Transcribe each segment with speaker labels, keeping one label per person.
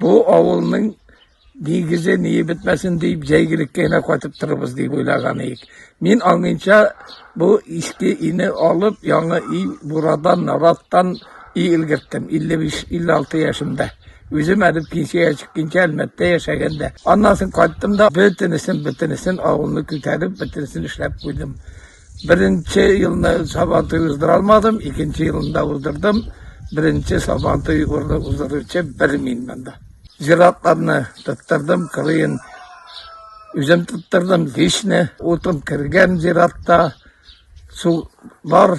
Speaker 1: Бу авылның нигезе ни бетмәсен дип җәйгелеккә генә катып торабыз дип уйлаган идек. Мин аңынча бу иске ине алып, яңа и бурадан, нараттан и илгерттем 55-56 яшемдә. Үзем әле пенсиягә чыкканча Әлмәттә яшәгәндә. Аннан соң кайттым да бөтенесен, бөтенесен авылны күтәреп, бөтенесен эшләп куйдым. Беренче елны Сабантуй уздыра алмадым, икенче елында уздырдым. Беренче Сабантуй урны уздыручы бер мин монда. Зиратларны тоттырдым, кырыен үзем тоттырдым, вишне, утын кергән зиратта, су бар.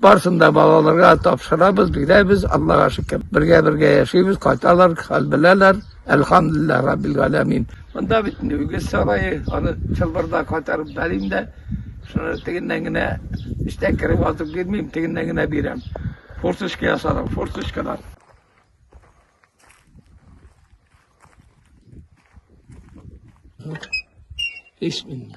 Speaker 1: Барсын да балаларга тапшырабыз, бирәбез, Аллага шөкер. Бергә-бергә яшибез, кайталар, хәл беләләр. Әлхәмдулиллаһ раббил галәмин. Монда бит үгез сарае, аны чылбырда кайтарып бәрим дә, шуны тегеннән генә эчтән кереп атып бирмим, тегеннән генә бирәм. Форточка ясадым, форточкадан. Бисмилла.